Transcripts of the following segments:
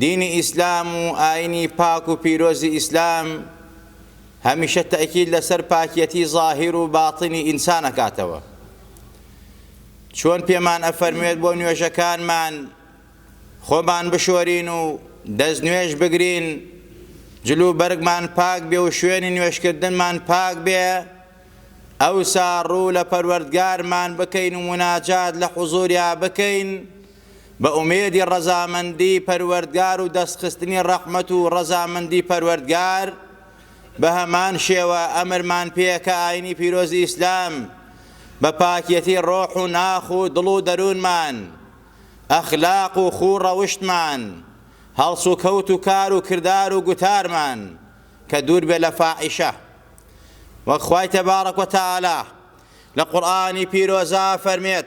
دینی ئیسلام و ئاینی پاک و پیرۆزی ئیسلام هەمیشە تەئکید لەسەر پاکیەتی زاهیر و باتنی ئینسان ئەکاتەوە چۆن پێمان ئەفەرموێت بۆ نوێژەکانمان خۆمان بشۆرین و دەست نوێژ بگرین جلو بەرگمان پاک بێ و شوێنی نوێشکردنمان پاک بێ ئەوسا ڕوو لە پەروەردگارمان بکەین و مناجات لە حزوریا بکەین بە ئومێدی ڕەزامەندی پەروەردگار و دەستخستنی ڕەحمەت و ڕەزامەندی پەروەردگار، بە هەمان شێوە ئەمرمان پێیە کە ئاینی پیرۆزی ئیسلام بە پاکیەتی ڕۆح و ناخ و دڵ و دەروونمان، ئەخلاق و خوو ڕەوشتمان، هەڵسوکەوت و کار و کردار و گوتارمان کە دوور بێ لە فاحیشە. وەک خوای تبارک و تعالی لە قورئانی پیرۆزا فەرمێت.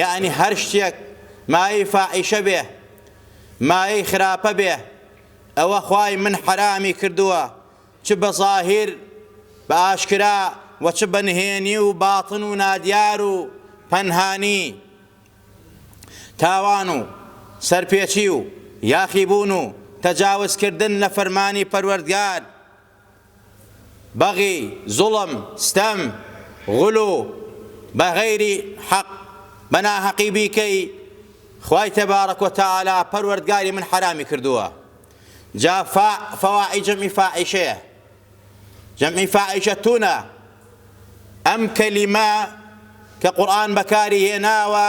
یەعنی هەر شتێک مایەی فاحیشە بێ مایەی خراپە بێ ئەوە خوای من حەرامی کردووە چ بە زاهیر بە ئاشکرا وە چ بە نهێنی و باطن و نادیار و پەنهانی تاوان و سەرپێچی و یاخیبوون و تەجاوز کردن لە فەرمانی پەروەردگار بەغی، زوڵم، ستەم، غلو، بە غەیری حەق، بە ناهەقی بیکەی، خوای تبارک و تعالی، پەروەردگاری من حەرامی کردووە. جا فاع، فواعی جەمعی فاعیشەیە. جەمعی فاعیشەتونە. ئەم کەلیمە کە قورئان بەکاری هێناوە،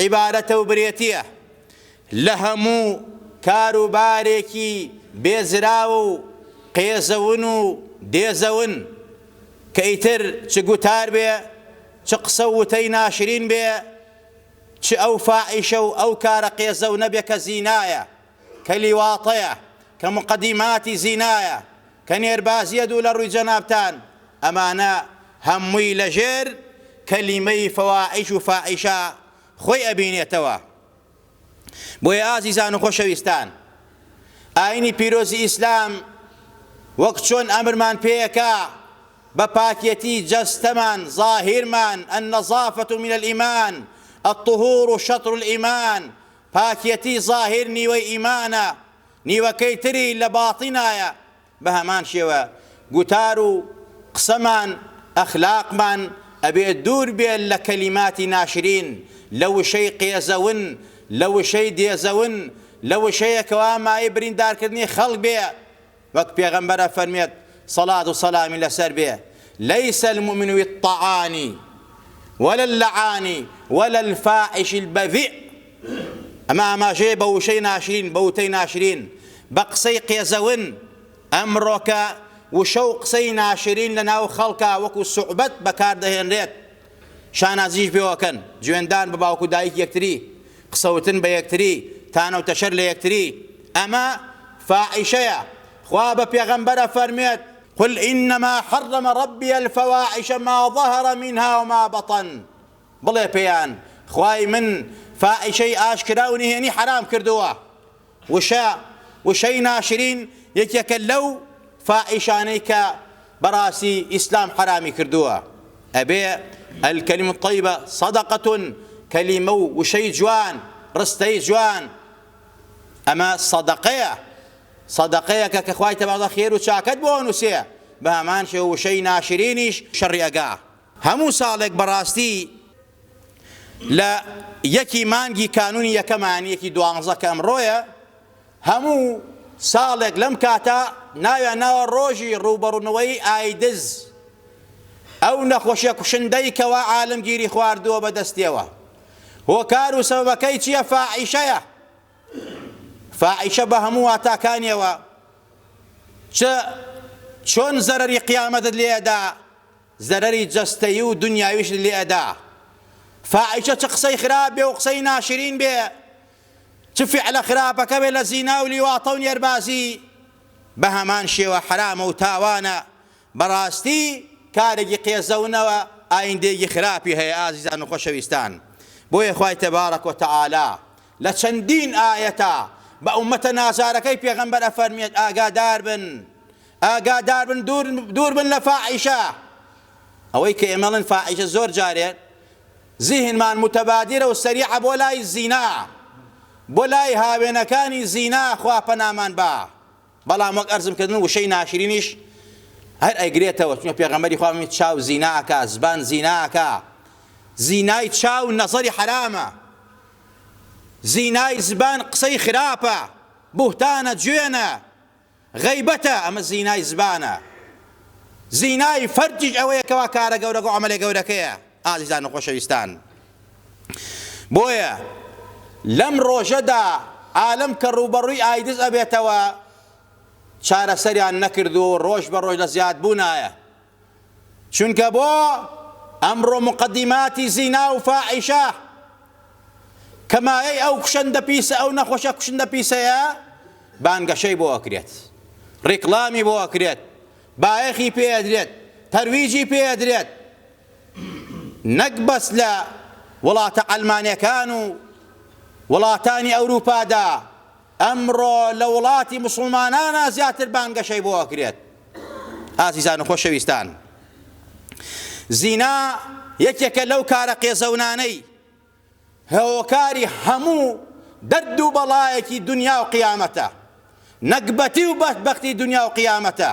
عیبارەتە و برێتیە لە هەموو کار و بارێکی بێزراو و قێزەون و دێزەون کە ئیتر چ گوتار بێ چ قسە و وتەی ناشرین بێ چ ئەو فاحیشە و ئەو کارە قێزەونە بێ کە زینایە. کە لیواطەیە، کە موقەدیماتی زینایە، کە نێربازیە دوو لە ڕووی جەنابتان، ئەمانە هەمووی لە ژێر کەلیمەی فواحیش و فاحیشە خۆی ئەبینێتەوە. بۆیە ئازیزان و خۆشەویستان، ئاینی پیرۆزی ئیسلام وەک چۆن ئەمرمان پێیەکا بە پاکێتی جەستەمان، ظاهیرمان، النظافە من الایمان، الطهور شطر الایمان، پاکیەتی زاهیر نیوەی ئیمانە نیوەکەی تری لە باتینایە بەهەمان شێوە گوتار و قسەمان ئەخلاقمان ئەبێ دوور بێ لە کەلیماتی ناشرین لە وشەی قێزەون لە وشەی دێزەون لە وشەیەکەوا مایەی بریندارکردنی خەڵک بێ وەک پێغەمبەر ئەفەرموێت سەڵات و سەلامی لەسەر بێ، لیس المومن بالطعان ولا اللعان ولا الفاحش البذیء، ئەمە ئاماژەیە بە وشەی ناشرین، بە وتەی ناشرین، بە قسەی قێزەون، ئەمڕۆکە وشە و قسەی ناشرین لەناو خەڵکا وەکو سوعبەت بەکاردەهێنرێت، شانازیش بۆکەن، جوێندان بە باوک و دایک یەکتری، قسەوتن بە یەکتری، تانە و تەشەر لە یەکتری، ئەمە فاحیشەیە، خوا بە پێغەمبەر ئەفەرموێت، قل انما حرم ربی الفواحش ما ظهر منها وما بطن، بڵێ پێیان، خوای من فاحیشەی ئاشکرا و نهێنی حەرام کردووە، وشە، وشەی ناشرین یەکێکە لەو فاحیشانەی کە بەڕاستی ئیسلام حەرامی کردووە، ئەبێ، الکلمە الطیبە صدقە، کەلیمە و وشەی جوان، ڕستەی جوان، ئەمە سەدەقەیە، سەدەقەیەکە کە خوای تەبارەکەوتەعالا خێر و چاکەت بۆ ئەنووسێ، بەهەمان شێوە وشەی ناشرینیش شەڕی ئەگا هەموو ساڵێک بەڕاستی. لە یەکی مانگی کانونی یەکەمە یانی یەکی دوانزە کە ئەمڕۆیە هەموو ساڵێک لەم کاتە ناویان ناوە ڕۆژی ڕووبەڕوونەوەی ئایدز ئەو نەخۆشیە کوشندەی کەوا عالمگیری خواردووە بەدەستیەوە هۆکار و سەبەکەی چییە فاعیشەیە فاعیشە بە هەموو واتاکانیەوە چ چۆن زەرەری قیامەتت لێدا زەرەری جەستەیی و دونیاویشت لێ ئەدا فاحیشە چ قسەی خراپ بێ و قسەی ناشرین بێ چ فعلە خراپەکە بێ لە زینا و لیواطە و نێربازی بە هەمان شێوە حەرامە و تاوانە بەڕاستی کارێکی قێزەونە و ئایندەیەکی خراپی هەیە ئازیزان و خۆشەویستان بۆیە خوای تبارک و تعالی لە چەندین ئایەتە بە ئومەتە نازارەکەی پێغەمبەر ئەفەرموێت ئاگادار بن ئاگادار بن دوور دوور بن لە فاحیشە ئەوەی کە ئێمە ئەڵێن فاحیشە زۆر جارێ زیهنمان متەبادرە و سەریعە بۆ لای زینا بۆ لای هاوێنەکانی زینا خوا پەنامان با بەڵام وەک ئەرزم کردن وشەی ناشرینیش هەر ئەگرێتەوە چونکە پێغەمبەری خوا فەرمووی چاو زینا ئەکا زبان زینا ئەکا زینای چاو نەزەری حرامە زینای زبان قسەی خراپە بوهتانە جوێنە غەیبەتە، ئەمە زینای زبانە، زینای فەرجیش ئەوەیە کەوا کارە گەورەگە و عەمەلە گەورەکەیە. ئازیزان و خۆشەویستان، بۆیە لەم ڕۆژەدا عالەم کە ڕووبەڕووی ئایدز ئەبێتەوە چارەسەریان نەکردووە و ڕۆژ بە ڕۆژ لە زیادبوونایە، چونکە بۆ ئەمڕۆ موقەدیماتی زینا و فاحیشە کە مایەی ئەو کوشەندە پیسە ئەو نەخۆشە کوشندە پیسەیە بانگەشەی بۆ ئەکرێت ڕیکلامی بۆ ئەکرێت بایەخی پێ ئەدرێت تەرویجی پێ ئەدرێت نەک بەس لە وڵاتە عەلمانەکان و وڵاتانی ئەوروپادا ئەمڕۆ لە وڵاتی موسڵمانانا زیاتر بانگەشەی بۆ ئەکرێت. ئازیزان و خۆشەویستان، زینا یەکێکە لەو کارە قێزەونانەی هۆکاری هەموو دەرد و بەڵایەکی دونیا و قیامەتە، نەگبەتی و بەدبەختی دونیا و قیامەتە.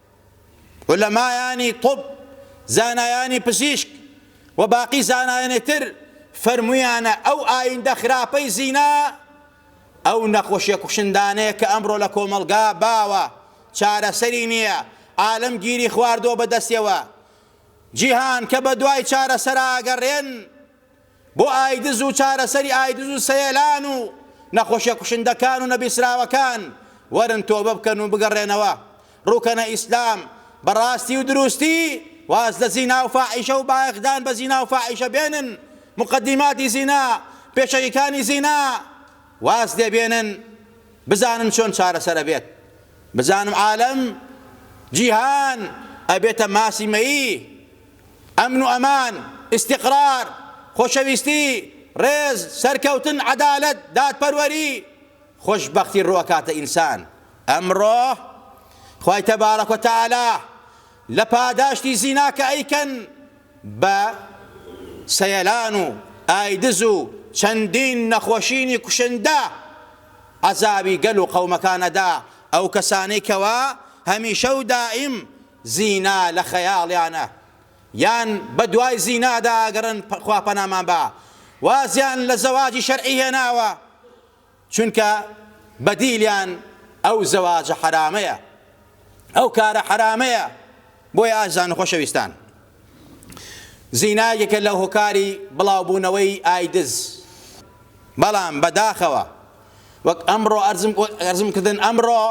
عولەمایانی طب، زانایانی پزیشک و باقی زانایانی تر فەرموویانە ئەو ئایندە خراپەی زینا ئەو نەخوشە کوشندانەیە کە ئەمڕۆ لە کۆمەڵگا باوە چارەسەری نییە عالەم گیری خواردووە بەدەستیەوە جیهان کە بەدوای چارەسەرا ئەگەڕێن بۆ ئایدز و چارەسەری ئایدز و سەیلان و نەخۆشیە کوشندەکان و نەبیسراوەکان وەرن تۆبە بکەن و بگەڕێنەوە ڕووکەنە ئیسلام بە ڕاستی و دروستی واز لە زینا و فاحیشە و بایەخدان بە زینا و فاحیشە بێنن مقدیماتی زینا پێشەکیکانی زینا واز لێ بێنن بزانن چۆن چارەسەر ئەبێت بزانم عالەم جیهان ئەبێتە ماسی مەیی ئەمن و ئەمان، ئیستیقرار، خۆشەویستی، ڕێز، سەرکەوتن، عەدالەت، دادپەروەری، خۆشبەختی ڕووئەکاتە ئینسان. ئەمڕۆ خوای تبارک و تعالی لە پاداشتی زینا کە ئەیکەن بە سەیەلان و ئایدز و چەندین نەخۆشینی کوشندە عەزابی گەل و قەومەکان ئەدا ئەو کەسانەی کەوا هەمیشە و دائیم زینا لە خەیاڵیانە یان بە دوای زینادا ئەگەڕێن خوا پەنامان با وازیان لە زەواجی شەرعی هێناوە چونکە بە دیلیان ئەو زەواجە حەرامەیە ئەو کارە حەرامەیە بۆیە ئازیزان و خۆشەویستان زینا یەکێکە لە هۆکاری بڵاوبوونەوەی ئایدز، بەڵام بەداخەوە وەک ئەمڕۆ ئەرزم کردن ئەمڕۆ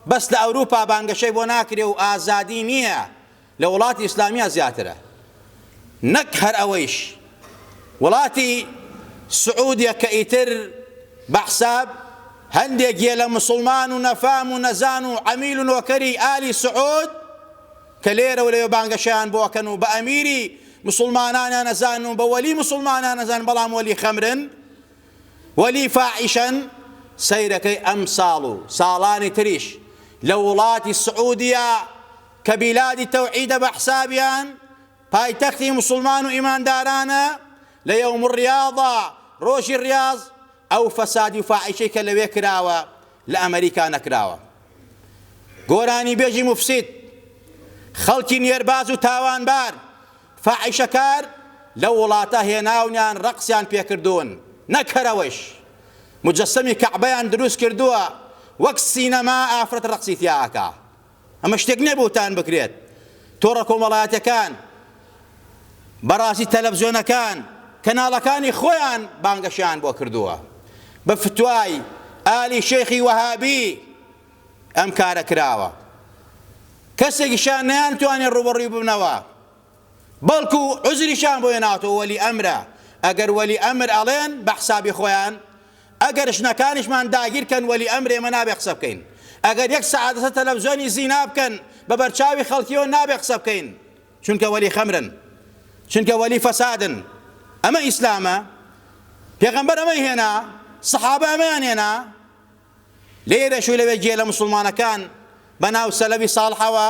بەس لە ئەوروپا بانگەشەی بۆ ناکرێ و ئازادی نییە لە وڵاتی ئیسلامیا زیاترە نەک هەر ئەوەیش وڵاتی سعودیە کە ئیتر بەحساب هەندێک گێ لە مسلمان و نەفام و نەزان و عەمیل و نۆکەری ئالی سعود کە لێرە و لەوێ بانگەشەیان بۆ ئەکەن و بە ئەمیری مسوڵمانانیان ئەزانن و بە وەلی مسوڵمانان ئەزانن بەڵام وەلی خەمرن وەلی فاحیشەن سەیرەکەی ئەمساڵ و ساڵانی تریش لە وڵاتی سعودیە کە بیلادی تەوحیدە بە حسابیان پایتەختی مسوڵمان و ئیماندارانە لە یەوم ڕیاضە ڕۆژی ڕیاز ئەو فەسادی و فاحیشەی کە لەوێ کراوە لە ئەمەریکا نەکراوە. گۆرانیبێژی موفسید، خەڵکی نێرباز و تاوانبار، فاحیشەکار لەو وڵاتە هێناونیان ڕەقسیان پێکردوون، نەک هەر ئەوەیش، موجەسەمی کەعبەیان دروست کردووە، وەک سینەما ئافرەت ڕەقسی تیا ئەکا. ئەمە شتێک نیە بوهتان بکرێت. تۆڕە کۆمەڵایەتیەکان، بەڕاستی تەلەفزیۆنەکان، کەناڵەکانی خۆیان بانگەشەیان بۆ کردووە. بە فتوای ئالی شێخی وەهابی ئەم کارە کراوە. کەسێکیشیان نەیانتوانی ڕووبەڕووی ببنەوە. بەڵکو عوزریشیان بۆ هێناوەتەوە وەلی ئەمرە. ئەگەر وەلی ئەمر ئەڵێن بە حسابی خۆیان، ئەگەر ژنەکانیشمان داگیر کەن وەلی ئەمر ئێمە نابێ قسە بکەین ئەگەر یەک سەعات لەسەر تەلەفزیۆنی زینا بکەن بەبەر چاوی خەڵکیەوە نابێ قسە بکەین چونکە وەلی خەمرن چونکە وەلی فەسادن ئەمە ئیسلامە پێغەمبەر ئەمەی هێنا سەحابە ئەمەیان هێنا لێرەش و لەوێ گێ لە مسلمانەکان بەناو سەلەوی ساڵحەوە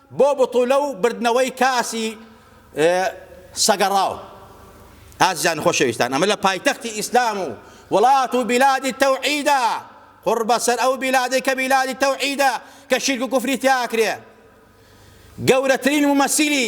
بۆ بتوولە و بردنەوەی کاسی سەگەڕاو. ئازیزانی خۆشەویستان ئەمە لە پایتەختی ئیسلام و وڵات و بیلادی تەوعیدە، قوڕ بەسەر ئەو بیلادەی کە بیلادی تەوعیدە کە شیرک و کوفری تیا ئەکرێ. گەورەترین مومەسیلی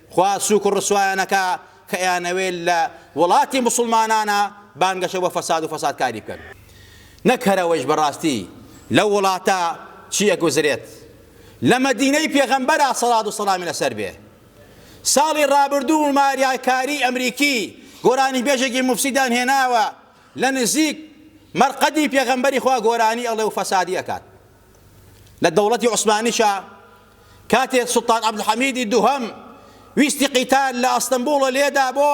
خوا سوک و ڕسوایانەکا کە ئەیانەوێ لە وڵاتی موسڵمانانا بانگەشە بۆ فەساد و فەسادکاری بکەن نەک هەر ئەوەیش بەڕاستی لەو وڵاتە چی ئەگوزرێت لە مەدینەی پێغەمبەرا سەڵات و سەڵامی لەسەر بێ ساڵی ڕابردوو ماریاکاری ئەمریکی گۆرانی بێژێکی موفسیدان هێناوە لە نزیک مەرقەدی پێغەمبەری خوا گۆرانی ئەڵێ و فەسادی ئەکات لە دەوڵەتی عوسمانیشا کاتێ سوڵتان عەبدولحەمیدی دووهەم ویستی قیتار لە ئەستەنبوڵە لێدا بۆ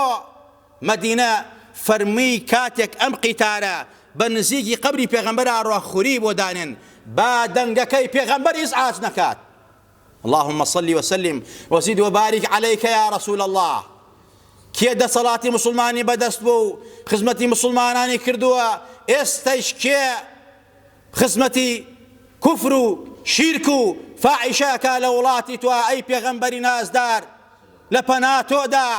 مەدینە فەرمی کاتێک ئەم قیتارە بە نزیکی قەبری پێغەمبەر ئاڕۆ خوری بۆ دانێن با دەنگەکەی پێغەمبەر ئیزعاج نەکات اللهم صل وسلم وزد وبارك عليك يا رسول الله کێ دەسەڵاتی مسلمانی بەدەست بوو خزمەتی مسلمانانی کردووە ئێستەش کێ خزمەتی کوفر و شیرک و فاعیشە ئەکا لە وڵاتی تۆ ئەی پێغەمبەری نازدار لە پەنا تۆدا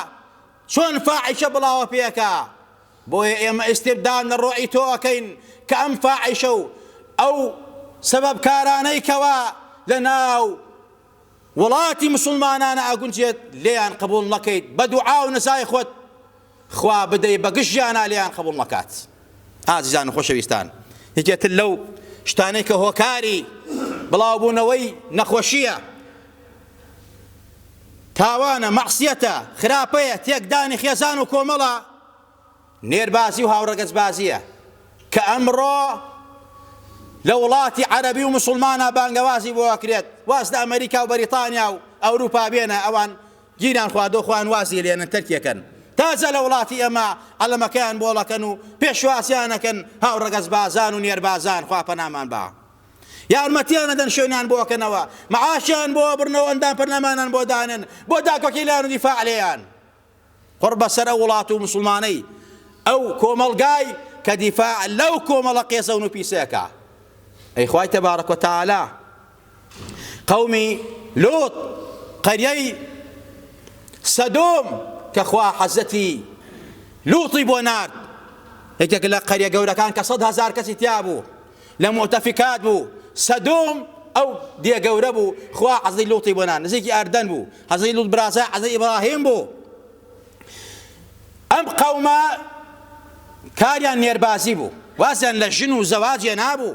چۆن فاعیشە بڵاوە پێ ئەکا بۆیە ئێمە ئیستبدال لە ڕۆعی تۆ ئەکەین کە ئەم فاعیشە و ئەو سەبەب کارانەی کەوا لە ناو وڵاتی مسوڵمانانە ئەگونجێت لێیان قبوڵ نەکەیت بە دوعا و نزای خۆت خوا بدەی بە گشت ژیانا لێیان قبوڵ نەکات. ئازیزان و خۆشەویستان یەکێ تر لەو شتانەی کە هۆکاری بڵاو بوونەوەی نەخۆشیە تاوانە مەعسیەتە خراپەیە تێکدانی خێزان و کۆمەڵە نێربازی و هاوڕەگەزبازیە کە ئەمڕۆ لە وڵاتی عەرەبی و مسلمانە بانگەوازی بۆ ئەکرێت واز لە ئەمریکا و بەریتانیا و ئەوروپا بێنە ئەوان گیران خوادۆ خۆیان وازی لێنن تەرکیەکەن تازە لە وڵاتی ئێمە عەلەمەکەیان بۆڵەکەن و پێشوازیان ئەکەن هاو ڕەگەز بازان و نێر بازان خوا پەنامان با یارمەتیان ئەدەن شوێنیان بۆ ئەکەنەوە معاشیان بۆ ئەبرنەوە ئەندام پەرلەمانان بۆ دانێن بۆ داکۆکیلان و دیفاع لێیان قڕ بەسەر ئەو وڵات و مسلمانەی ئەو کۆمەڵگای کە دیفاع لەو کۆمەڵە قێزەون و پیسەکە ئەی خوای تەبارەک و تەعالا قەومی لوط قەریەی سەدۆم کە خوا حەزەتی لوطی بۆ نارد یەکێک لە قەریە گەورەکان کە سەد هەزار کەسی تیا بوو لە مۆتەفیکات بوو سەدۆم ئەو دێ گەورە بوو خوا عەزی لوتی بۆنا نزیکی ئەردەن بوو حەزی لوت برازای عەزی ئیبراهیم بوو ئەم قەومە کاریان نێربازی بوو وازیان لە ژن و زەواجێ نابوو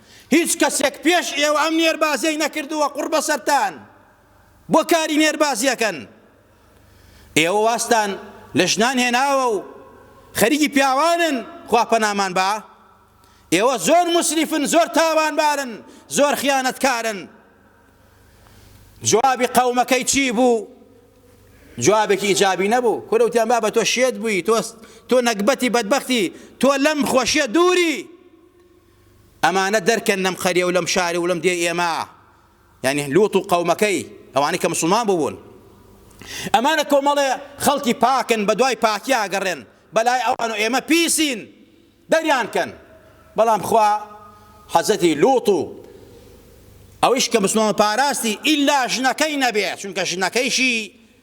هیچ کەسێک پێش ئێوە ئەم نێربازیەی نەکردووە قوڕ بەسەرتان بۆ کاری نێربازیەکەن ئێوە واستان لە ژنان هێناوە و خەریکی پیاوانن خوا پەنامان با ئێوە زۆر مسریفن زۆر تاوانبارن زۆر خیانەتکارن جوابی قەومەکەی چی بوو جوابێکی ئیجابی نەبوو کورەوتیان بابە تۆ شێت بووی تۆ تۆ نەگبەتی بەدبختی تۆ لەم خۆشیە دووری ئەمانە دەرکەن لەم قەریە و لەم شار و لەم دێی ئێمە، یانی لوط و قەومەکەی، ئەوانەی کە موسڵمان بوون. ئەمانە کۆمەڵێ خەڵکی پاکن بەدوای پاکی ئاگەڕێن، بەلای ئەوان و ئێمە پیسین، دەریان کەن. بەڵام خوا حەزرەتی لوط و ئەویش کە موسڵمان بوو پاراستی، ئیلا ژنەکەی نەبێ، چونکە ژنەکەیشی،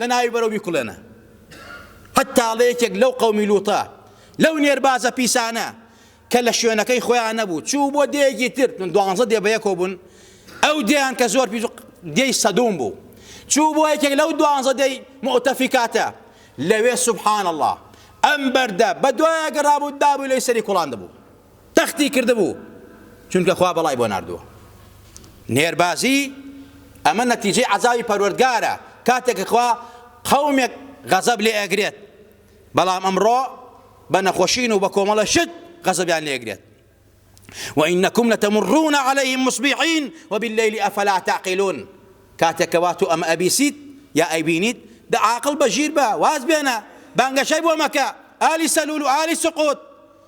لە ناوی بەرەو بیکوڵێنە قەت تاڵە یەکێک لەو قەومی لووتە لەو نێربازە پیسانە کە لە شوێنەکەی خۆیان نەبوو چوو بۆ دێگی تر من دوانزە دێ بەیەکەوە بوون ئەو دێیان کە زۆر پیس دێی سەدوم بوو چوو بۆ یەکێک لەو دوانزە دێی مؤتەفیکاتە لەوێ سبحان الله ئەم بەردە بە دوایە گەڕابوو دابوو لەی سەری کوڵان دەبوو تەختی کردبوو چونکە خوا بەڵای بۆ ناردووە نێربازی ئەمە نەتیجەی عەزابی پەروەردگارە کاتێک کە خوا قەومێک غەزەب لێ ئەگرێت بەڵام ئەمڕۆ بە نەخۆشین و بە کۆمەڵە شت غەزەبیان لێ ئەگرێت وإنكم لتمرون عليهم مصبحين وبالليل أفلا تعقلون کاتێک کە واتو ئەمە ئەبیسیت یا ئەیبینیت دە عاقڵ بەژیر بە واز بێنە بانگەشەی بۆ مەکە ئالی سەلول و ئالی سقوت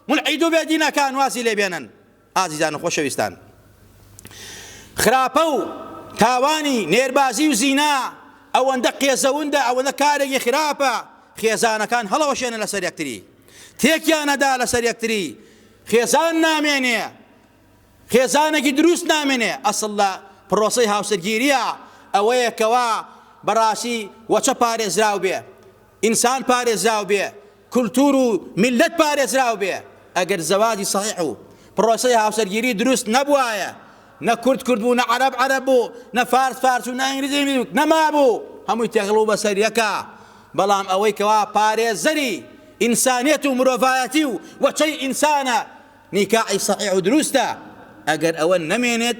مولحید و بێ دینەکان وازی لێ بێنن. ئازیزان و خۆشەویستان خراپە و تاوانی نێربازی و زینا ئەوەندە قێزەوندە ئەوەندە کارێکی خراپە خێزانەکان هەڵەوەشێنە لەسەر یەکتری تێکیانەدا لەسەر یەکتری خێزان نامێنێ خێزانێکی دروست نامێنێ، ئەسڵ لە پڕۆسەی هاوسەرگیرییە ئەوەیە کەوا بەڕاستی وەچە پارێزراو بێ، ئینسان پارێزراو بێ، کولتوور و میللەت پارێزراو بێ، ئەگەر زەواجی سەحیح و پڕۆسەی هاوسەرگیری دروست نەبوایە، نە کورد کورد بوو، نە عەرەب عەرەب بوو، نە فارس فارس و نە ئینگلیز ئینگلیز بوو، نەمابوو، هەمووی تێکەڵ بوو بەسەر یەکا، بەڵام ئەوەی کەوا پارێزەری ئینسانیەت و مرۆڤایەتی و وەچەی ئینسانە، نیکاحی سەحیح و دروستە ئەگەر ئەوە نەمێنێت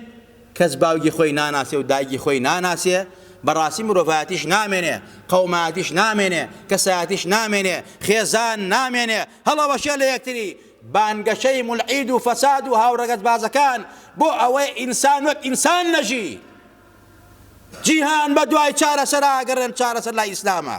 کەس باوگی خۆی ناناسێ و دایگی خۆی ناناسێ بەڕاستی مرۆڤایەتیش نامێنێ قەومایەتیش نامێنێ کەسایەتیش نامێنێ خێزان نامێنێ هەڵەوەشێ لە یەکتری بانگەشەی مولعید و فەساد و هاوڕەگەزبازەکان بۆ ئەوەی ئینسان وەک ئینسان نەژی جیهان بە دوای چارەسەر ئاگەڕێن چارەسەر لای ئیسلامە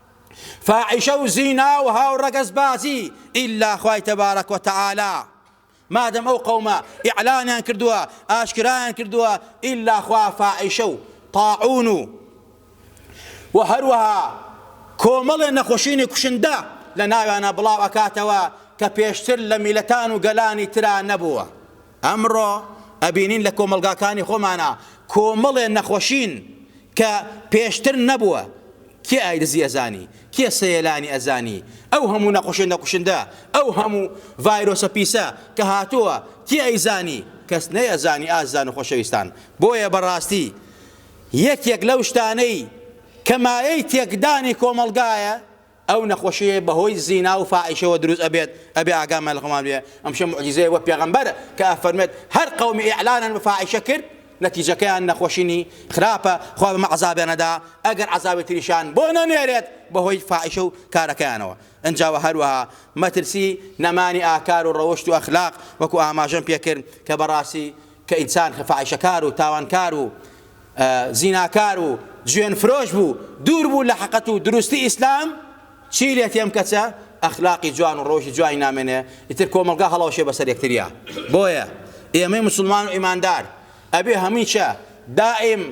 فاحیشە و زینا و هاوڕەگەزبازی ئیلا خوای تبارک و تعالی مادەم ئەو قەومە ئیعلانیان کردووە ئاشکرایان کردووە ئیلا خوا فاحیشە و طاعون و و هەروەها کۆمەڵێ نەخۆشینی کوشندە لە ناویانە بڵاو ئەکاتەوە کە پێشتر لە میلەتان و گەلانی ترا نەبووە ئەمڕۆ ئەبینین لە کۆمەڵگاکانی خۆمانا کۆمەڵێ نەخۆشین کە پێشتر نەبووە، کێ ئایدزی ئەزانی، کێ سەیەلانی ئەزانی، ئەو هەموو نەخۆشێنە کوشندە، ئەو هەموو ڤایرۆسە پیسە کە هاتووە کێ ئەیزانی، کەس نەیەزانی ئازیزان و خۆشەویستان، بۆیە بەڕاستی یەکێک لەو شتانەی کە مایەی تێکدانی کۆمەڵگایە، ئەو نەخۆشیەی بەهۆی زینا و فاحیشەوە دروست ئەبێت ئەبێ ئاگامان لەخۆمان بێ ئەمشە موعجیزەیە بۆ پێغەمبەر کە ئەفەرموێت هەر قەومی ئیعلانن بە فاحیشە کرد نەتیجەکەیان نەخۆشینی خراپە خوا بەمە عەزابیان ئەدا ئەگەر عەزابی تریشان بۆ نەنێرێت بەهۆی فاحیشە و کارەکەیانەوە ئنجا وە هەروەها مەترسی نەمانی ئاکار و ڕەوشت و ئەخلاق وەکو ئاماژەم پێکرد کە بەڕاستی کە ئینسان فاحیشەکار و تاوانکار و زیناکار و جوێن فرۆش بوو دوور بوو لە حەقەت و دروستی ئیسلام چی لێ تێم کەچە ئەخلاقی جوان و ڕۆژی جوانی نامێنێ ئیتر کۆمەڵگا هەڵەوەشێ بەسەر یەکتریا بۆیە ئێمەی مسلمان و ئیماندار ئەبێ هەمیشە دائیم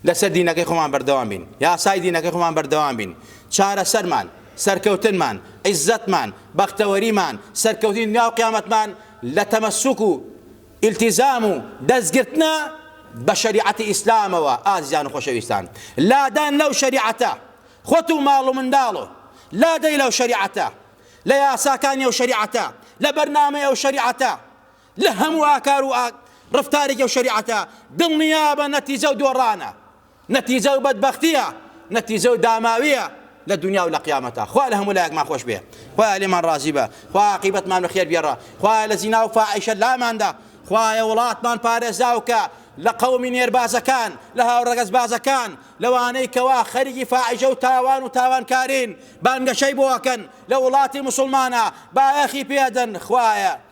لەسەر دینەکەی خۆمان بەردەوام بین، یاسای دینەکەی خۆمان بەردەوام بین، چارەسەرمان، سەرکەوتنمان، عیززەتمان، بەختەوەریمان، سەرکەوتنی دنیا و قیامەتمان لە تەمەسوک و ئیلتیزام و دەستگرتنە بە شەریعەتی ئیسلامەوە ئازیزان و خۆشەویستان لادان لەو شەریعەتە خۆت و ماڵ و منداڵ و لادەی لەو شەریعەتە لە یاساکانی ئەو شەریعەتە لە بەرنامەی ئەو شەریعەتە لە هەموو ئاکار و ڕەفتارێکی ئەو شەریعەتە دڵنیابە نەتیجە و دۆڕانە، نەتیجە و بەدبەختییە، نەتیجە و داماوییە لە دونیا و لە قیامەتا. خوایە لە هەموو لایەکمان خۆش بێ، خوایە لێمان ڕازی بە، خوایە عاقیبەتمان بە خێر بگێڕە، خوایە لە زینا و فاحیشە لامان دە، خوایە وڵاتمان پارێزاو کە لە قەومی نێربازەکان، لە هاوڕەگەزبازەکان، لەوانەی کەوا خەریکی فاحیشە و تاوان و تاوانکارین بانگەشەی بۆ ئەکەن لە وڵاتی موسڵمانا بایەخی پێ ئەدەن، خوایە.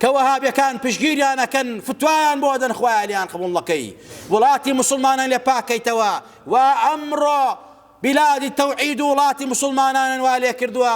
کە وەهابیەکان پشگیریان ئەکەن فتوایان بۆ ئەدەن خوایە لێیان قبوڵ نەکەی وڵاتی موسڵمانان لێ پاک کەیتەوە وا ئەمڕۆ بلادی تەوعید و وڵاتی موسڵمانانن وا لێ کردووە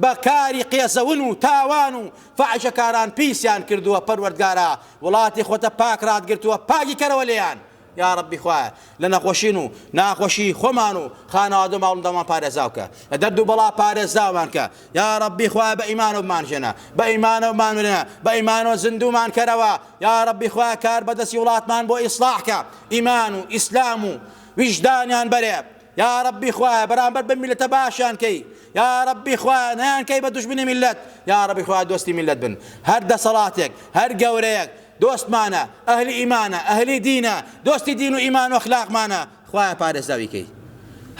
بە کاری قێزەون و تاوان و فاحیشەکاران پیسیان کردووە پەروەردگارا وڵاتی خۆتە پاک ڕاتگرتووە پاکی کەرەوە لێیان یاڕەبی خوایە لە نەخۆشین و ناخۆشی خۆمان و خانەوادە و ماڵندامان پارێزاوکە لە دەرد و بەڵا پارێزاوانکە یاڕەبی خوایە بە ئیمانە بمانژێنە بە ئیمانە و مامرێنە بە ئیمانەوە زیندومان کەرەوە یاڕەبی خوایە کار بەدەستی وڵاتمان بۆ ئیسڵاحکە ئیمان و ئیسلام و ویژدانیان بەرێ یاڕەبی خوایە بەرامبەر بەم میلەتە باشیان کەی یاڕەبی خوایە نەیان کەی بە دوژمنی میلەت یاڕەبی خوایە دۆستی میلەت بن هەر دەسەڵاتێک هەر گەورەیەک دۆستمانە ئەهلی ئیمانە ئەهلی دینە دۆستی دین و ئیمان و اخلاقمانە خوایە پارێزاوی کەی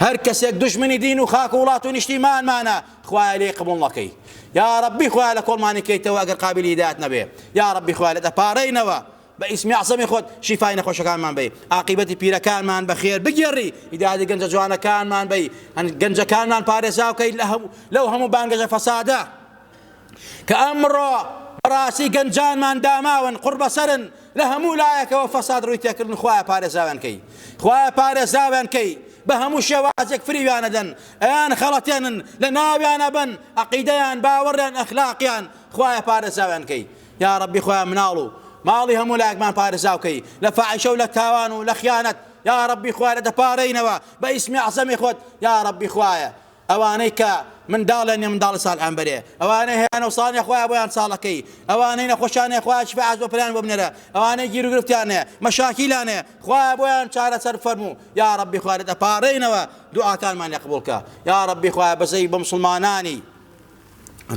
هەر کەسێک دژمنی دین و خاک و وڵات و نیشتیمانمانە خوایە لێ قبول نەکەی یا ربی خوایە لە کۆڵمانی کەیتەوە ئەگەر قابلی هیدایەت نەبێ یا ربی خوایە لە دەپارەینەوە بە ئیسمی ئەعزەمی خۆت شیفای نەخۆشەکانمان بەی، ئاقیبەتی پیرەکانمان بە خێر بگێڕی، هیدایەتی گەنجە جوانەکانمان بەی، گەنجەکانمان پارێزاو کەی لەو هەموو بانگەشە فەسادە کە ئەمڕۆ بەڕاستی گەنجانمان داماون قوڕبەسەرن لە هەموو لایەکەوە فەساد ڕووی تێکردن خوایە پارێزاویان کەی خوایە پارێزاویان کەی بە هەموو شێوازێک فریویان ئەدەن ئەیان خەڵەتێنن لە ناویان ئەبەن عەقیدەیان باوەڕیان ئەخلاقیان خوایە پارێزاویان کەی یاڕەبی خوایە مناڵ و ماڵی هەموو لایەکمان پارێزاو کەی لە فاحیشە و لە تاوان و لە خیانەت یاڕەبی خوایە لە دەپارێینەوە بە ئیسمی عەزەمی خۆت یاڕەبی خوایە ئەوانەی کە منداڵیان نیە منداڵی ساڵحیان بەرێ ئەوانەی هەیە نەوسانیان خوایە بۆیان ساڵەکەی ئەوانەی نەخۆشیان هەیە خوایە شیفای عاجڵ پەنایان بۆ بنێرە ئەوانەی گیر و گرفتیان هەیە مەشاکیلان هەیە خوایە بۆیان چارەسەر بفەرموو یا ربی خوایە دەپارێینەوە دوعاکانمان لێ قبوڵکە یا ربی خوایە بەزەی بە مسلمانانی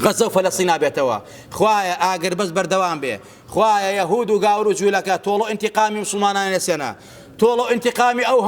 غەزەو فەلەستینا بێتەوە خوایە ئاگر بەس بەردەوام بێ خوایە یەهود و گاور و جوولەکە تۆڵە ئینتیقامی مسلمانانی لەسێنە تۆڵە ئینتیقامی ئەو